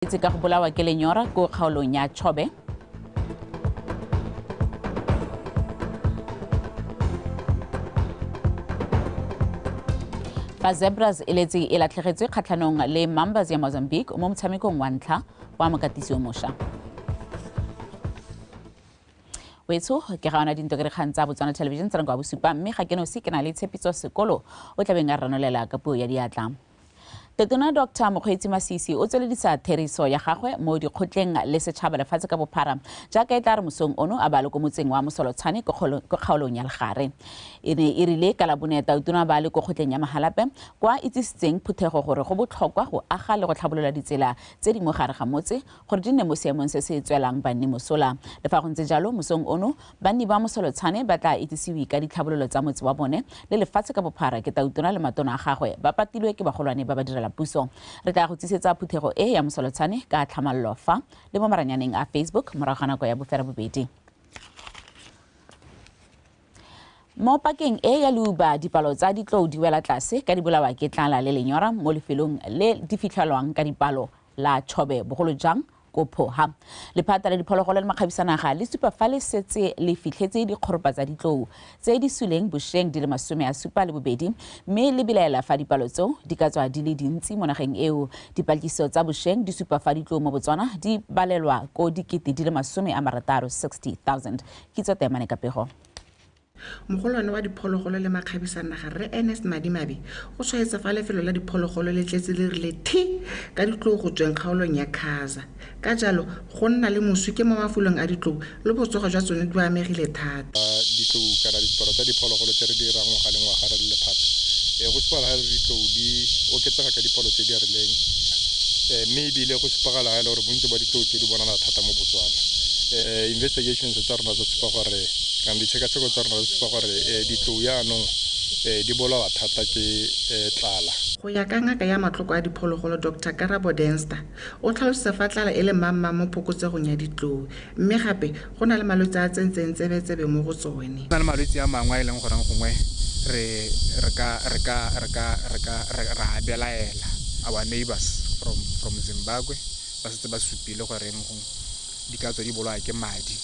itse ka go bolawa ke lenyora ko kgaolong ya chobe ba zebras e letse e latlhegetswe kgatlhanong le mambas ya mozambique mo motshamekong wa ntlha wa mokatisi o mošwa wetsho ke ga ona dinto ke dikgang tsa botswana television tsa nako ya bosupa mme ga ke nosi ke na le tshepiso sekolo o tlabeng a ranolela ka puo ya diatla Totona Doctor Mokgweetsi Masisi o tsweledisa theriso ya gagwe mo dikgotleng le setšhaba lefatshe ka bophara jaaka e tla re mosong ono a ba le ko motseng wa Mosolotshane ko kgaolong ya Legare. E ne e rile ka Labone Tautona ba le ko kgotleng ya Mahalape kwa itsisitseng phuthego gore go botlhokwa go aga le go tlhabolola ditsela tse di mo gare ga motse gore di nne mo seemong se se tswelang banni mosola. Le fa go ntse jalo mosong ono Banni ba Mosolotshane ba tlaa itsisiwe ka ditlhabololo tsa motse wa bone le lefatshe ka bophara ke Tautona le matona a gagwe ba patilwe ke bagolwane ba badirela puso. Re tlaa go tsesetsa phuthego e ya Mosolotshane ka tlhamallo fa le mo maranyaneng a Facebook morago ga nako ya boferabobedi. Mo pakeng e ya leuba dipalo tsa ditlou di wela tlase ka di bolawa ke tlala le lenyora mo lefelong le di fitlhelwang ka dipalo la Chobe, bogolo jang ko Phoha. Lephata la diphologolo le makgabisanaga le supa fa le setse le fitlhetse dikgoropa tsa ditlou tse di suleng bosheng di le masome a supa le bobedi mme le belaela fa dipalo tseo di ka tswa di le dintsi mo nageng eo. Dipatlisiso tsa bosheng di supa fa ditlou mo Botswana di balelwa ko dikete di le masome a marataro, 60,000. Kitso Temane Kapego. Mogolwane wa diphologolo le makgabisa a naga, Rre Ernest Madimabe, o tshwaetsa fa lefelo la diphologolo le tletse le rile thi ka ditlou go tsweng kgaolong ya Khaza. Ka jalo, go nna le moswi ke mo mafolong a ditlou le botsogo jwa tsone di amegile thata. Ditlou kana diporo tsa diphologolo tse re di irang ngwaga le ngwaga re le lephata, go supagala ga e le gore ditlou di oketsega ka dipalo tse di rileng mme e bile go supagala ga e le gore bontsi ba ditlou tse di bonala thata mo Botswana. Investigations tsa rona tsa supa gore kana ditshekatsheko tsa rona re supa gore um ditlou yaanong um di bolawa thata ke um tlala go ya ka ngaka ya matloko a diphologolo dr karabo denster o tlhalosetsa fa tlala e le mmangmang mo phokotsegong ya ditlou mme gape go na le malwetse a tsentseng tsebetsebe mo go tsone na le malwetse a mangwe a e leng goreng gongwe re ra belaela our neighbors from from zimbabwe ba setse ba supile goreng gongwe di ka tswa di bolaya ke madi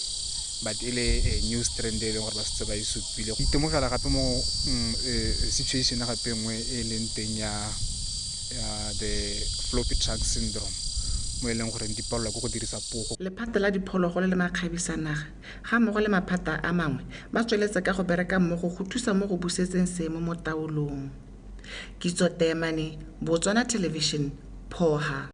but e le eh, new strand e leng gore ba setse ba e supile itemogela gape mo mm, eh, situation gape nngwe e leng teng ya the floppy truck syndrome mo e leng goreng di palelwa ke go dirisa pogo lephata la diphologolo le makgabisa naga ga mmogo le maphata a mangwe ba tsweletse ka go bereka mmogo go thusa mo go busetseng seemo mo taolong kitso teemane botswana television phoha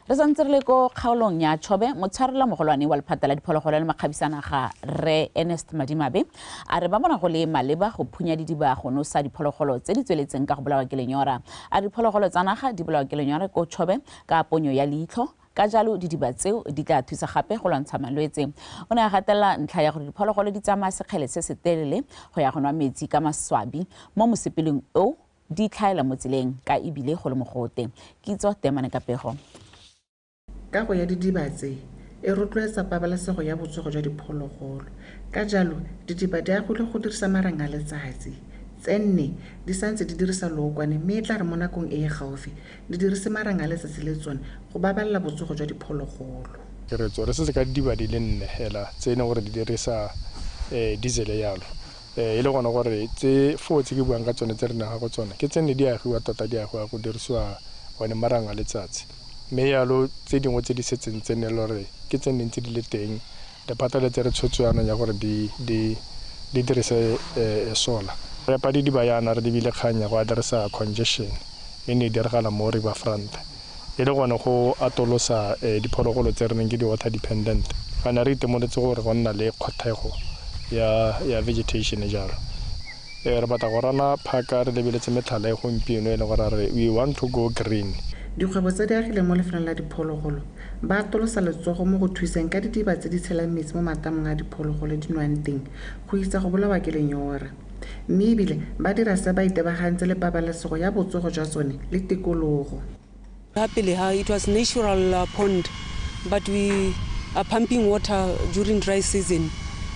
re santse re le ko kgaolong ya chobe motshwarela mogolwane wa lephata la diphologolo le makgabisanaga re ernest madimabe a re ba bona go le maleba go phunya didiba go nosa diphologolo tse di tsweletseng ka go bolawa ke lenyora a re diphologolo tsa naga di bolawa ke lenyora ko chobe ka ponyo ya leitlho ka jalo didiba tseo di tla thusa gape go lwantsha malwetse o ne a gatelela ntlha ya gore diphologolo di tsamaya sekgele se se telele go ya go nwa metsi ka maswabi mo mosepeleng o di tlhaela mo tseleng ka e bile go le mogote. Kitso Temane ka pego. Kago ya didiba tse e rotloetsa pabalesego ya botsogo jwa diphologolo. Ka jalo, didiba di agilwe go dirisa marang a letsatsi. Tse nne di santse di dirisa lookwane mme e tla re mo nakong e e gaufi di dirise marang a letsatsi le tsone go babalela botsogo jwa diphologolo. Re tswaletse se ka didiba di le nne fela tse e leng gore di dirisa diesel jalo e le gone gore tse foo tse ke buang ka tsone tse re nang go tsone ke tse ne di agiwa tota di agiwa go dirisiwa one marang a letsatsi mme yalo tse dingwe tse di setseng tse ne e le gore ke tse neng tse di le teng lephata le tse re tshwetso yanong ya gore di di di dirise um solar re padidiba yana re lebile kgang ya go adirisa congestion e ne e diragala mo river front e le gone go atolosa diphologolo tse re neng ke di-water dependent. Ga ne re itemoletse gore go nna le kgothego ya vegetation jalo. Re batla go rana phaka re lebeletse metlhala e gompieno e leng gore re we want to go green. Dikgwebo tse di agileng mo lefelong la diphologolo ba atolosa letsogo mo go thuseng ka didiba tse di tshelang metsi mo matamong a diphologolo di nwang teng go itsa go bolawa ke lenyora. mme e bile ba dira se ba itebagantse le pabalesego ya botsogo jwa tsone le tikologo. Ha pele ha it was natural uh, pond but we are pumping water during dry season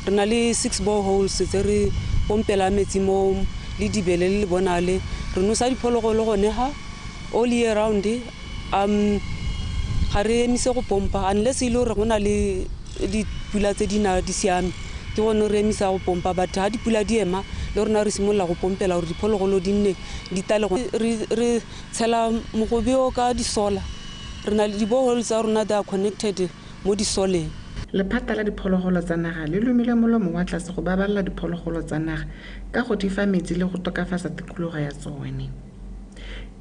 re na le six boreholes tse re pompela metsi mo le dibele le le bonale re nosa diphologolo gone ha all year round Um, ga re emise go pompa unless e le gore go na le dipula tse di na di siame ke gone re emisa go pompa but ga dipula di ema le rona re simolola go pompela gore diphologolo di nne di tale re tshela mogobe o ka disola re na le dibohole tsa rona they are connected mo disoleng Lephata la diphologolo tsa naga le lomile molomo wa tlase go babalela diphologolo tsa naga ka go di fa metsi le go tokafatsa tikologo ya tsone.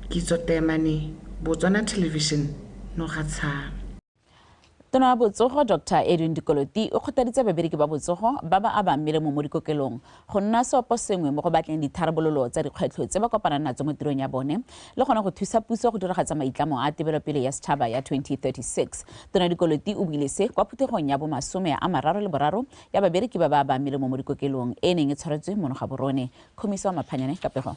Kitso Teemane, Botswana Television, Nogatshana. Tona ya Botsogo Dr Edwin Dikoloti o kgothaditse babereki ba botsogo ba ba abang melemo mo dikokelong go nna seopo sengwe mo go batleng ditharabololo tsa dikgwetlho tse ba kopanang natso mo tirong ya bone le gone go thusa puso go diragatsa maitlamo a tebelopele ya setšhaba ya 2036. Tona Dikoloti o buile se kwa phuthegong ya bomasome a mararo le boraro ya babereki ba ba abang melemo mo dikokelong e neng e tshwaretswe mono ga borone. Khomiso Maphanyane ka pego.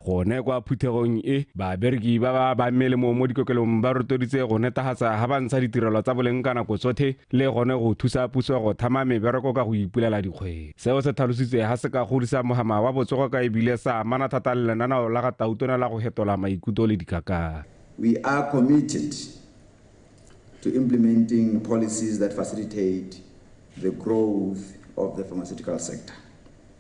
Gone kwa phuthegong e, babereki ba ba ba melemo mo dikokelong ba rotoditse go netagatsa ga ba ntsha ditirelo tsa boleng ka nako tsotlhe le gone go thusa puso go thama mebereko ka go ipulela dikgwebo. Seo se tlhalositswe ga se ka godisa mohama wa botsogo ka e bile sa amana thata le lenaneo la ga Tautona la go hetola maikuto le dikakanyo. We are committed to implementing policies that facilitate the growth of the pharmaceutical sector.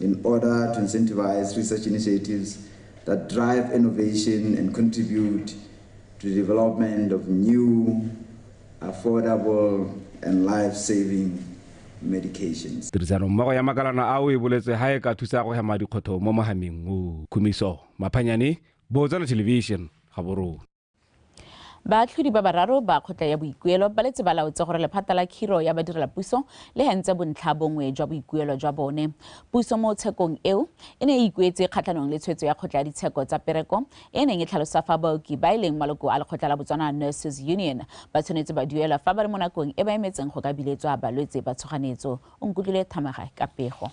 In order to incentivize research initiatives that drive innovation and contribute to the development of new, affordable, and life-saving medications. Tirisano mmogo ya makalana ao e boletswe ha e ka thusa go hema dikgotho mo mohameng o. Khumiso Maphanyane, Botswana Television, Gaborone. Baatlhodi ba bararo ba kgotla ya boikuelo ba letse ba laotse gore lephata la khiro ya badirelapuso le hentse bontlha bongwe jwa boikuelo jwa bone. Puso mo tshekong eo e ne e ikuetse kgatlhanong le tshwetso ya kgotla ya ditsheko tsa pereko e neng e tlhalosa fa baoki ba e leng maloko a lekgotla la Botswana Nurses Union ba tshwanetse ba duelwa fa ba le mo nakong e ba emetseng go ka biletswa balwetse ba tshoganetso. O nkutlwile Thamaga ka pego.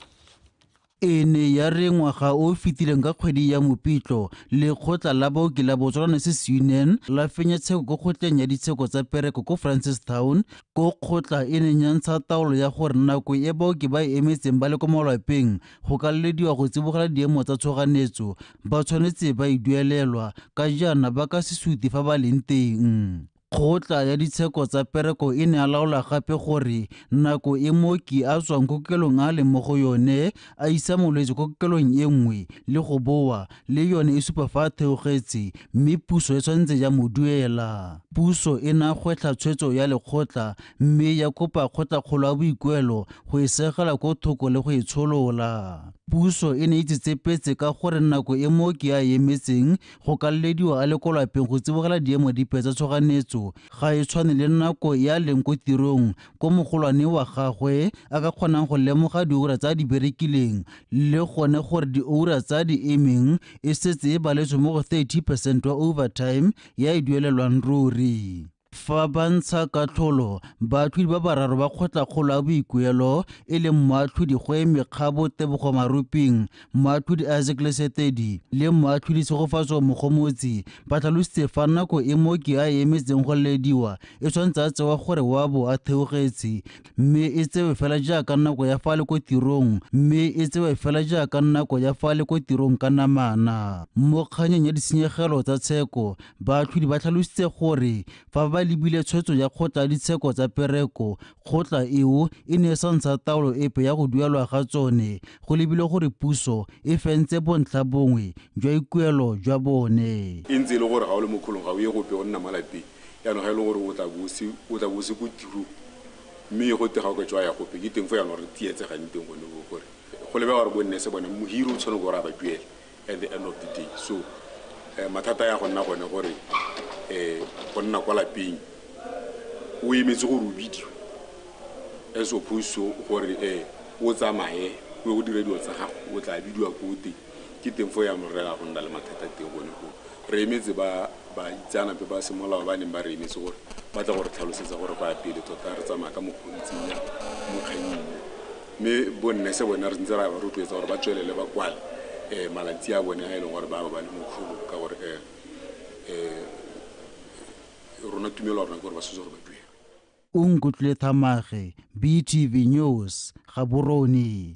E ne ya re ngwaga o o fetileng ka kgwedi ya Mopitlo, lekgotla la baoki la Botswana se se Union la fenya tsheko ko kgotleng ya ditsheko tsa pereko ko Francistown, ko kgotla e neng ya ntsha taolo ya gore nako e baoki ba e emetseng ba le ko malwapeng go ka lelediwa go tsibogela diemo tsa tshoganyetso ba tshwanetse ba e duelelwa ka jaana ba ka se sute fa ba leng teng. Kgotla ya ditsheko tsa pereko e ne a laola gape gore nako e mooki a tswang ko kokelong a leng mo go yone a isa molwetse ko kokelong e nngwe le go boa le yone e supa fa a theogetse mme puso e tshwanetse ya mo duela. Puso e ne a gwetlha tshwetso ya lekgotla mme ya kopa kgotlakgolo ya boikuelo go e segela ko thoko le go e tsholola. Puso e ne e tsetsepetse ka gore nako e mooki a e emetseng go ka lelediwa a le ko lapeng go tsibogela diemo dipe tsa tshoganyetso ga e tshwane le nako e a leng ko tirong ko mogolwane wa gagwe a ka kgonang go lemoga diura tsa di berekileng le gone gore diura tsa di emeng e setse e baletswe mo go 30 percent wa overtime ya e duelelwang ruri Fa ba ntsha katlholo, baatlhodi ba bararo ba kgotlakgolo ya boikuelo e leng moatlhodi Goe Mekgabo Tebogo Maruping, moatlhodi Isaac Lesetedi le moatlhodi Tshegofatso Mogomotsi ba tlhalositse fa nako e mooki a e emetseng go lelediwa e tshwanetse a tsewa gore wa bo a theogetse mme e tsewe fela jaaka nako ya fa le ko tirong mme e tsewe fela jaaka nako ya fa le ko tirong ka namana mo kganyeng ya ditshenyegelo tsa tsheko baatlhodi ba tlhalositse gore fa ba lebile tshwetso ya kgotla ditsheko tsa pereko kgotla eo e ne e sa ntsha taolo epe ya go duelwa ga tsone go lebile gore puso e fentse bontlha bongwe jwa ikuelo jwa bone e ntse e le gore ga o le mo kgolong ga o ye gope o nna malapeng Jaanong ga e le gore o tla bo se o tla bo se ko tirong mme go tega go tswa ya gope ke teng fo jaanong re tsietsegang teng gone o gore go lebega gore bo nne se bone mohiri o tshwane gore a ba duele at the end of the day so um mathata ya go nna gone gore um go nna kwa lapeng o emetse gore o bidiwe as opposed to gore um o tsamaye o ye go dira dilo tsa gago o tla bidiwa ko teng ke teng fo ya morera go nna le mathata teng gone go re emetse ba ba itseanape ba semolao ba neng ba re emetse gore ba tla gore tlhalosetsa gore go ya pele tota re tsamaya ka mokgontsing ya mokganyeng mme bonne se bone re ntse ra ba rotloetsa gore ba tswelele ba kwale um malatsi a bone a e leng gore ba ba ba le mokgolo ka gore um um rona tumelo rona ke gore ba setse gore ba duela o nkutlwile thamage btv news gaborone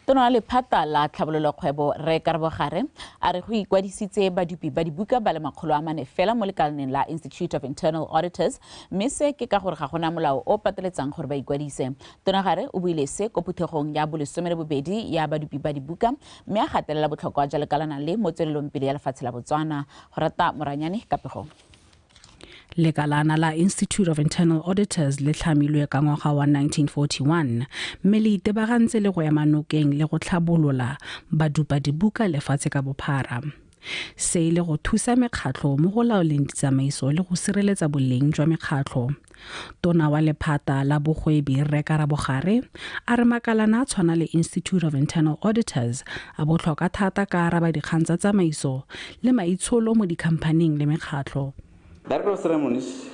Tona wa lephata la tlhabololokgwebo Rre Karabo Gare a re go ikwadisitse badupi ba dibuka ba le makgolo a mane fela mo lekalaneng la Institute of Internal Auditors mme se ke ka gore ga gona molao o pateletsang gore ba ikwadise. Tona Gare o buile se ko phuthegong ya bolesome le bobedi ya badupi ba dibuka mme a gatelela botlhokwa jwa lekalana le mo tswelelong pele ya lefatshe la Botswana. Go rata Moranyane ka pegong. lekalana la institute of internal auditors le tlhamilwe ka ngwaga wa 1941 mme le itebagantse le go ema nokeng le go tlhabolola badupa dibuka lefatshe ka bophara se e le go thusa mekgatlho mo go laoleng ditsamaiso le go sireletsa boleng jwa mekgatlho Tona wa lephata la bogwebi Rre Karabo Gare a re makalana a tshwana le Institute of Internal Auditors a botlhokwa thata ka araba dikgang tsa tsamaiso le maitsholo mo dikhamphaning le mekgatlho. Director of Ceremonies,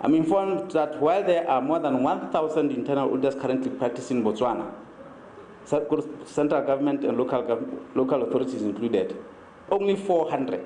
I'm informed that while there are more than 1,000 internal auditors currently practicing in Botswana, central government and local, local authorities included, only 400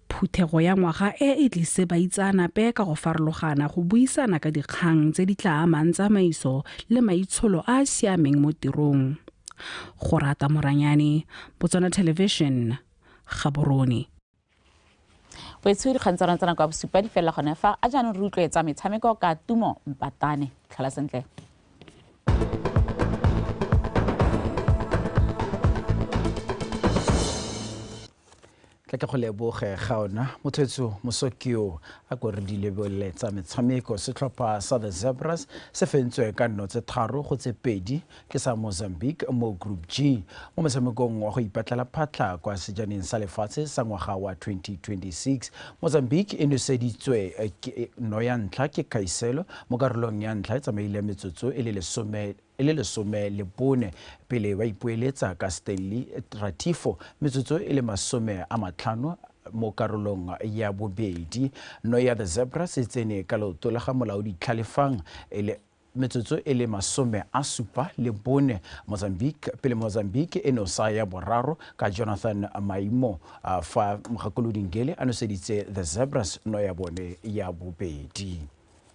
Phuthego ya ngwaga e e tlise baitseanape ka go farologana go buisana ka dikgang tse di tla amang tsamaiso le maitsholo a a siameng mo tirong. Go rata Moranyane, Botswana Television, Gaborone. Wetsho dikgang tsa rona tsa nako ya bosupa di felela gone fa a jaanong re utlwetsa metshameko ka Tumo Mpatane. Tlhola sentle. Tle ke go leboge ga ona mothwetso Mosokio a ko re di lebelele tsa metshameko. Setlhopha sa The Zebras se fentswe ka nno tse tharo go tse pedi ke sa Mozambique mo Group G mo motshamekong wa go ipatlela phatlha kwa sejaneng sa lefatshe sa ngwaga wa 2026. Mozambique e noseditswe no ya ntlha ke Kaiselo mo karolong ya ntlha e tsamaile metsotso e le lesome e le lesome le bone pele ba ipoeletsa ka Stanley Tratifo metsotso e le masome a matlhano mo karolong ya bobedi. No ya The Zebras e tsene ka leoto la ga molaodi Tlhalefang e le metsotso e le masome a supa le bone Mozambique pele Mozambique e no sa ya boraro ka Jonathan Maimo fa Mgakolodi Ngele a noseditse The Zebras no ya bone ya bobedi.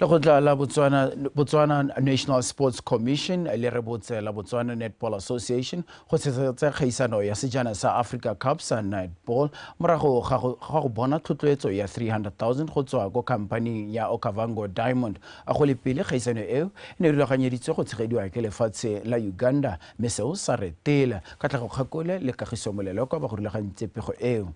lekgotla la botswana, botswana national sports commission le re botse la botswana netball association go tshetsa kgaisano ya sejana sa africa cup sa netball morago ga go bona tlhotloetso ya 300000 go tswa ko khampaning ya okavango diamond a go le pele kgaisano eo e ne e rulaganyeditswe go tshegediwa ke lefatshe la uganda mme seo sa retela ka tlhago kgakole le kagiso molelo kwa ba go rulagantse pego eo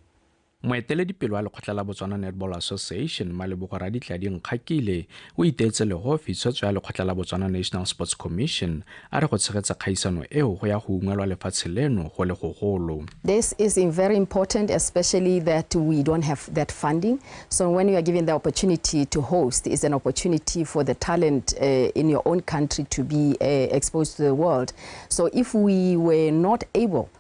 Moeteledipele wa lekgotla la Botswana Netball Association, Malebogo Raditladi Nkgakile, o iteetse legofi tshwetso ya lekgotla la Botswana National Sports Commission a re go tshegetsa kgaisano eo go ya go ungwelwa lefatshe leno go le gogolo. This is very important, especially that we don't have that funding. So when you are given the opportunity to host, it's an opportunity for the talent uh, in your own country to be uh, exposed to the world. So if we were not able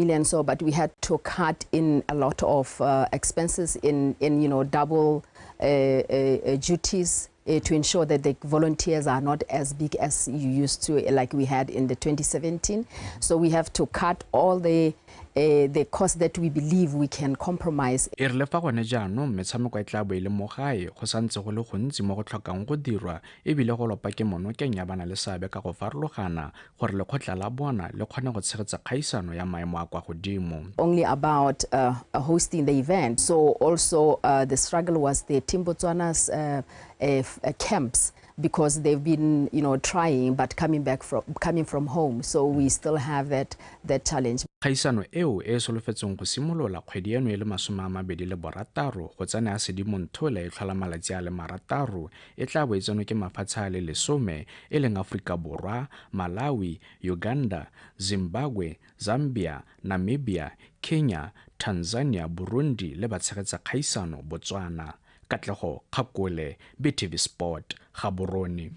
million so but we had to cut in a lot of uh, expenses in in you know double uh, uh, uh duties uh, to ensure that the volunteers are not as big as you used to uh, like we had in the 2017 so we have to cut all the Uh, the cost that we believe we can compromise e re le fa gone jaanong metshameko e tla bo e le mo gae go santse go le gontsi mo go tlhokang go dirwa ebile go lopa ke monokeng ya bana le seabe ka go farologana gore lekgotla la bona le kgone go tshegetsa kgaisano ya maemo a kwa godimo. only about uh, uh, hosting the event. So also uh, the struggle was the Team Botswana's uh, uh, f- uh, camps because they've been, you know, trying but coming back from coming from home. So we still have that that challenge. kgaisano eo e e solofetsweng go simolola kgwedi eno e le masome a mabedi le borataro go tsena ya sedimonthola e tlhola malatsi a le marataro e tla bo e tsenwe ke mafatshe a le lesome e leng Aforika Borwa, Malawi, Uganda, Zimbabwe, Zambia, Namibia, Kenya, Tanzania, Burundi le batshegetsa kgaisano, Botswana. Katlego Kgakole, BTV Sport, Gaborone.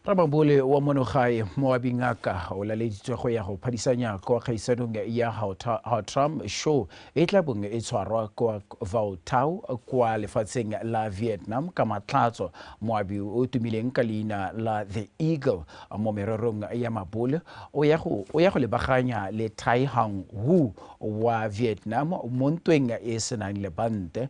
Ramabole wa monogae mo wa Bingaka o laleditswe go ya go phadisanya kwa kgaisanong ya Hautram Show e tla bong e tshwarwa kwa Vautau kwa lefatsheng la Vietnam ka Matlhatso. Moabi o tumileng ka leina la The Eagle mo mererong ya mabole o ya go, o ya go lebaganya le Thai Hang Hu wa Vietnam mo ntweng e e senang lebante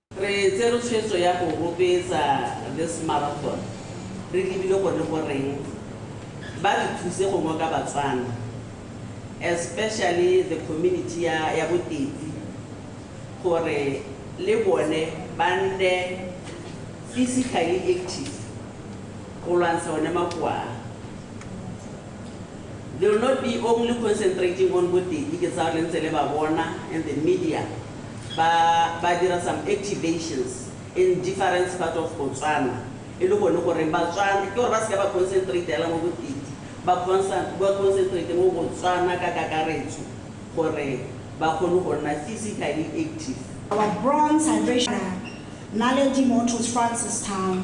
Re tsere tshwetso ya go rotloetsa this marathon re lebile gone goreng ba re thuse go ngoka Batswana especially the community ya ya bo Tetsi gore le bone ba nne physically active go lwantsha one makoa a. They will not be only concentrating on bo Tetsi ke tsaya gore le ntse le ba bona and the media. Ba ba dira some activations in differents part of Botswana e le gone goreng Batswana ke gore ba seka ba concentrate hela mo Bopedi ba concentrate mo Botswana ka kakaretso gore ba kgone go nna physically active. Our bronze hydration Naledi Motors Francistown.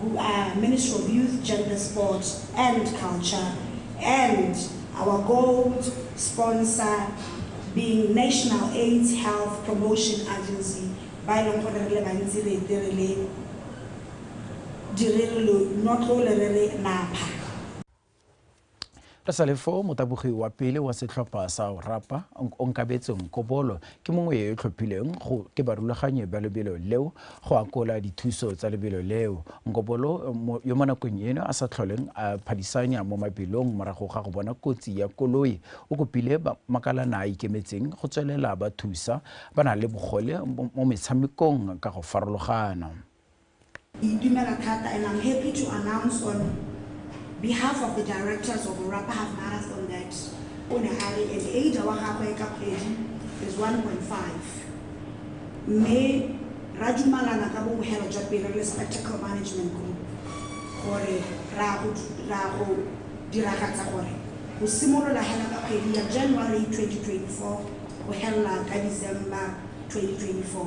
who are Ministry of Youth, Gender, Sport and Culture, and our gold sponsor being National AIDS Health Promotion Agency, ba e leng gore re le bantsi re ete re le direlo notlole re re napha. re sa le foo motabogi wa pele wa setlhopha sa orapa onkabetse nkobolo ke mongwe yo e tlhophileng go ke barulaganyi ba lebelo leo go akola dithuso tsa lebelo leo nkobolo yo mo nakong eno a sa tlholeng a phadisanya mo mabelong morago ga go bona kotsi ya koloi o kopile makalana a ikemetseng go tswelela ba thusa ba na le bogole mo metshamekong ka go farologana Ke itumela thata and I'm happy to announce on behalf of the directors of Orapa Half Marathon that o ne a re an age wa gagwe ka kgwedi is 1.5 mme ra dumalana ka bobogelo jwa pelo le Spectacle Management Group gore ra go ra go diragatsa gore go simolola hela ka kgwedi ya January 2024 go helela ka December 2024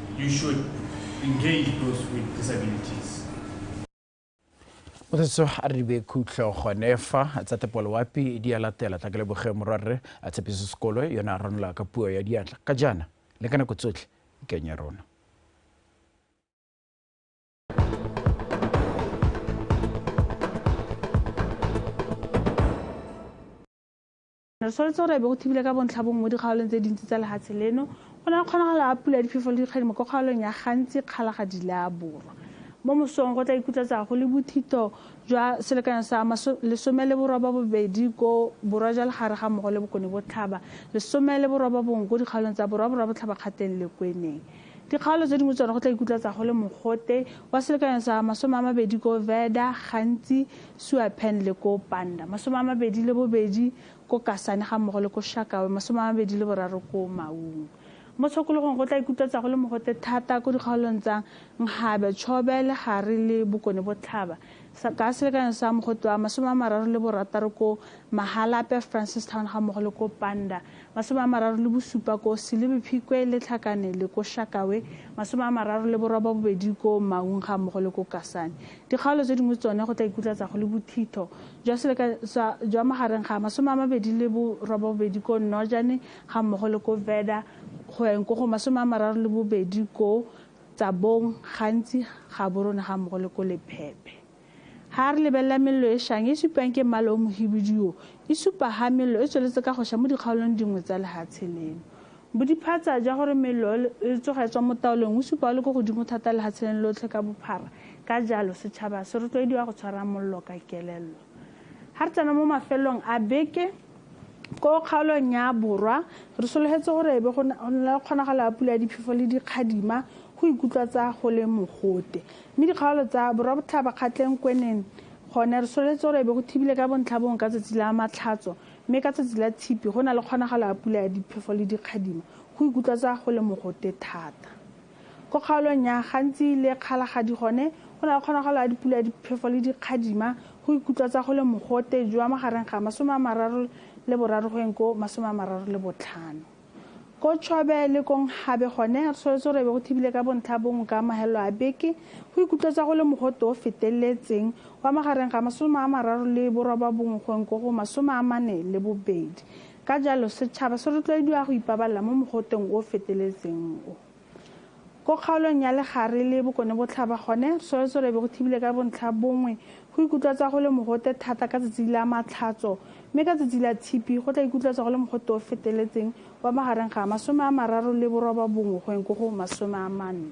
You should engage those with disabilities. o setse a re be khutlo gone fa tsa tepoloapi di a latela tla ke leboge morwarre a tshepiso sekolo yone a ranola ka puo ya diatla ka jaana le ka nako tsotlhe ikeng ya rona Re tshwanetse gore ebe go thibile ka bontlha bongwe mo dikgaolong tse dintsi tsa lehatshe leno. Go na le kgonagalo a pula ya diphefo le dikgedi mo kgaolong ya gantsi kgalagadi le a borwa. Mo mosong go tla ikutlatsa go le bothito jwa selekanyo sa lesome le boroba bobedi ko borwa jwa legare ga mmogo le bokone botlhaba, lesome le boroba bongwe ko dikgaolong tsa borwa borwa botlhaba kgateng le kweneng. Dikgaolo tse dingwe tsone go tla ikutlatsa go le mogote wa selekanyo sa masome a mabedi ko Veda, gantsi Suapen le ko Panda, masome a mabedi le bobedi ko Kasane ga mmogo le ko Shakawe, masome a mabedi le boraro ko Maung. Mo tshokologong go tla ikutlatsa go le mogote thata ko dikgaolong tsa Nghabe, Chobe, Legare le Bokone Botlhaba ka selekanyo sa mogote wa masome a mararo le borataro ko Mahalape, Francistown ga mmogo le ko Panda, masome a mararo le bosupa ko Silibi Phikwe le Tlhakane le ko Shakawe, masome a mararo le boroba bobedi ko Maung ga mmogo le ko Kasane. Dikgaolo tse dingwe tsone go tla ikutlatsa go le bothitho jwa seleka sa jwa magareng ga masome a mabedi le boroba bobedi ko Nnojane ga mmogo le ko Veda go yang ko go masome a mararo le bobedi ko Tsabong, Gantsi, Gaborone ga mmogo le ko Lephephe. Ha re lebelela mello e shang e supiwang ke mmala o mohibidu o, e supa ha mello e tsweletse ka go sha mo dikgaolong dingwe tsa lehatshe leno. Bodiphatsa jwa gore mello e tsoga e tswa mo taolong o supiwa o le ko godimo thata lehatshe leno lotlhe ka bophara, ka jalo setšhaba se rotloediwa go tshwara mollo ka kelello. Ha re tsena mo mafelong a beke, Ko kgaolong ya Borwa, re sologetse gore e be go na le kgonagalo ya pula ya diphefo le dikgadima go ikutlwatsa go le mogote. Mme dikgaolo tsa Borwa Botlhaba, Kgatleng, Kweneng gone re sologetse gore e be go thibile ka bontlhabongwe ka tsatsi la Matlhatso mme ka tsatsi la Tshipi go na le kgonagalo ya pula ya diphefo le dikgadima go ikutlwatsa go le mogote thata. Ko kgaolong ya gantsi le kgalagadi gone go na le kgonagalo ya dipula ya diphefo le dikgadima go ikutlwatsa go le mogote jwa magareng ga masome a mararo le boraro go eng ko masome a mararo le botlhano. Ko Chobe le ko Nghabe gone re soletse gore be go thibile ka bontlha bongwe ka mahelelo a beke go ikutlwatsa go le mogote o feteletseng wa magareng ga masome a mararo le borobabongwe go eng ko go masome a mane le bobedi. Ka jalo, setšhaba se rotloediwa go ipabalela mo mogoteng o o feteletseng o. Ko kgaolong ya Legare le Bokonebotlhaba gone, Tsholetsolo e be go thibile ka bontlha bongwe. Go ikutlwatswa go le mogote thata ka tsatsi la Matlhatso, mme ka tsatsi la Tshipi go tla ikutlwatswa go le mogote o o feteletseng wa magareng ga masome a mararo le borobabongwe go yeng ko go masome a manne.